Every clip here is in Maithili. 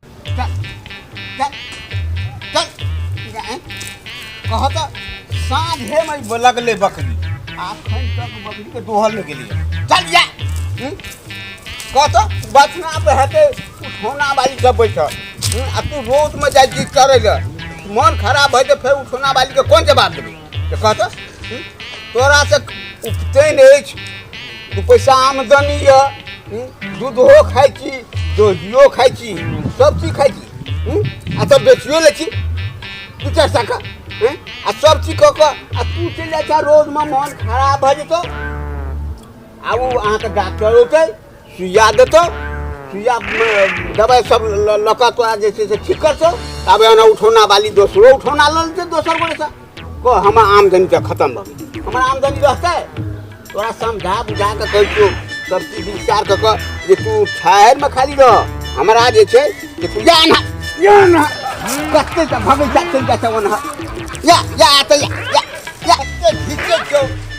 चल चल चल जाए कह तो साँझे में लगले बकरी आखन तक बकरी के दोहल में गेलिए चल जा हम्म? कह तो बचना पे हटे उठौना बाली जब बैठ आ तू रोज में जाए चीज करे मन खराब है तो फिर उठौना बाली के कौन जवाब देबे के कहता हूँ? तोरा से उपतैन अछि दू पैसा आमदनी यऽ हूँ? दूधो खाइ छी दहियो खाइ छी सब चीज खाइ छी हूँ? आ तब बेचियो लै छी दू चारि टाका हूँ? आ सब चीज कऽ कऽ आ तू चलि जाइ छह रोडमे मोन खराब भऽ जेतौ आ ओ अहाँके डॉक्टर औतै सुइया देतो सुइया म, दबाइ सब ल- लऽ कऽ तोरा जे छै से ठीक करतो ताबे एना उठौना बाली दोसरो उठौना लऽ लेतै दोसर गोरेसँ कह हमर आमदनी तऽ खतम भऽ गेल हमर आमदनी रहतै तोरा समझा बुझा कऽ कहै छियौ सब चीज विचार कऽ कऽ जे तू ठहरमे खाली रह हमरा जे छै जे तू जा एना या एना कतै तऽ भगै जा चलि जाइ छै ओना या या एतै या या या एतै घिचै छौ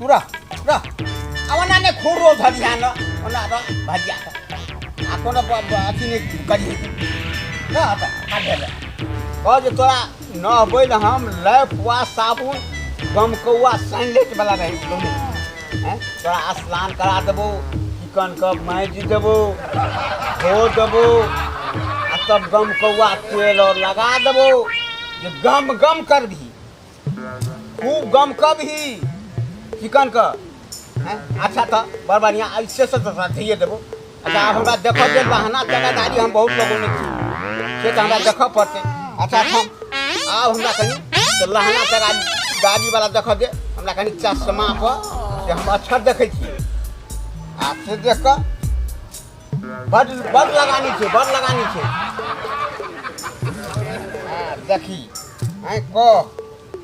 तुरा तुरा अब ना ने खोर रो धर ध्यान ओना अब भाजिया आ कोनो अथी ने करी ना हटा काट दे कह जे तोरा न होबै न हम लैफ वा साबुन गमकौआ सैंडलेट वाला रही दोनों हैं तोरा स्नान करा देबो चिकन के माइज देबो धो देबो आ तब गमकौआ तेल और लगा देबो जे गम गम करबही खूब गम कब ही चिकन का हैं? अच्छा था बड़ बढ़िया ऐसे से तो साथिए देबो अच्छा आब हमरा देखो जे बहाना जगहदारी हम बहुत लोगों में छी से तो हमरा देखो पड़ते अच्छा हम आब हमरा कनी से लहना तगा गाड़ी वाला देखो दे हमरा कनी चश्मा पर से हम अक्षर देखै छी आ से देख कऽ बड बड लगानी छै बड लगानी छै हाँ, देखी हैं कह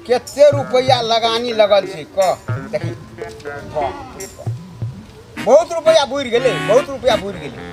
कते रुपया लगानी लगल छै कह देखी वाह, बहुत रुपया बुड़ गेलै बहुत रुपया बुड़ गेलै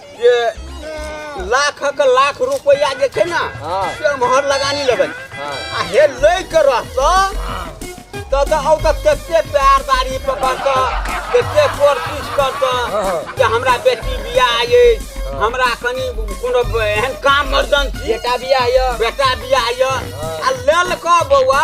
जे लाखक लाख रुपैआ जे छै ने हँ से एम्हर लगानी लेबै हँ आ हे लय के रहतौ तऽ तऽ औ तऽ कते पैर दाढ़ी पकड़तौ कते कोशिश करतौ जे हमरा बेटी बियाह अछि हमरा कनि कोनो एहन काम मर्दन छी बेटा बियाह यऽ बेटा बियाह यऽ आ लेल कऽ बौआ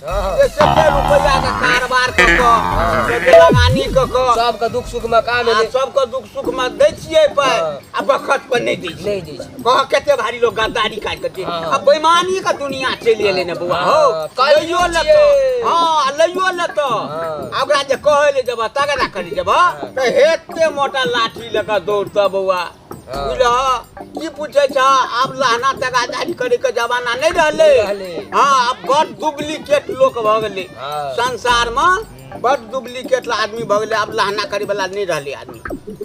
जे कते रुपैया के कारोबार क क जे लगानी क क सबके दुख सुख में काम आ एलै सबके दुख सुख में दै छियै पाइ हाँ। आ बखत पर नहि दै छियै नहीं दै छै कह कते भारी लोग गद्दारी काट के छै हाँ। आ बेईमानी के दुनिया चलि एलै ने बौआ हौ हाँ, काल्हि लइयो छियै। लेतो हाँ लइयो लेतो हाँ। आ ओकरा जे कहै ले जेबह तगड़ा करी जेबह तऽ हेते मोटा लाठी लऽ कऽ दौड़तऽ बौआ ई पूछे छ आब लहना तगादारी करे के जमाना नहीं रहले रहले। हाँ अब बड़ डुप्लीकेट लोग भ गेले हाँ। संसार में बड़ डुप्लीकेट आदमी भ गेले अब लहना करे वाला नहीं रहले आदमी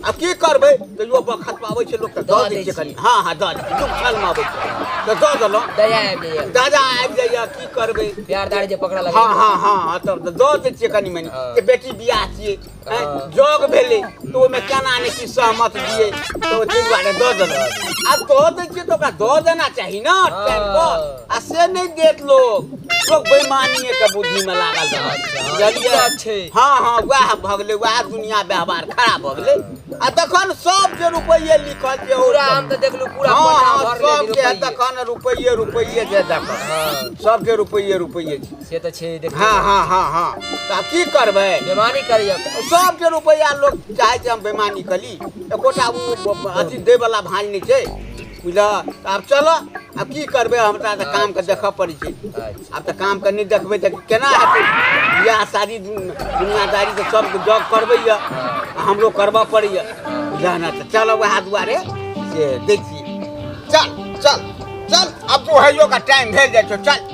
अब की करबे तो यो बखत पावे छै लोग त दऽ दऽ दै दै छै छै। कनी हाँ हाँ दऽ दै दुख छल में आबै छै तऽ दऽ देलहुँ दया आबि जाइए दादा आबि जाइए की करबै प्यार दार जे पकड़ा लगे हाँ हाँ हाँ हाँ, तब तऽ दऽ दै छियै कनी मनी हँ। जे बेटी बियाह छियै हैं, जग भेले तो ओमे केना ने की सहमत दिए तो ते दुआरे दऽ देल आ दऽ दै छियै तऽ ओकरा दऽ देना चाही ना टाइम पर आ से नहि देत लोग लोग बेईमानिए के बुद्धि में लागल रहत अच्छा, बुझलियै? अच्छा छै। हाँ हाँ वएह भऽ गेलै वएह दुनिया व्यवहार खराब भऽ गेलै आ तखन सब जे रुपैये लिखल जे ओ पूरा हम तऽ देखलू पूरा हाँ कोठा हाँ भरले सबके रुपैये। तखन रुपैये रुपैये जे देखल हाँ। सबके रुपैये रुपैये छै से तऽ छै देख हाँ हाँ हाँ हाँ तऽ आब की करबै बेमानी करियौ सबके रुपैआ लोक चाहै छै हम बेमानी करी एकोटा ओ ब- अथी दैवला भाँज नहि छै बुझलह तऽ आब चलऽ आब की करबै हमरा तऽ कामके देखऽ पड़ै छै अच्छा आब तऽ कामके नहि देखबै तऽ केना हेतै बियाह शादी दुन- दुनियादारी तऽ सबके जॉब करबैए आ हमरो करबऽ पड़ैए बुझलह ने तऽ चलऽ वएह दुआरे से दै छियै चल चल चल आब दुहैयोके टाइम भेल जाइ छौ चल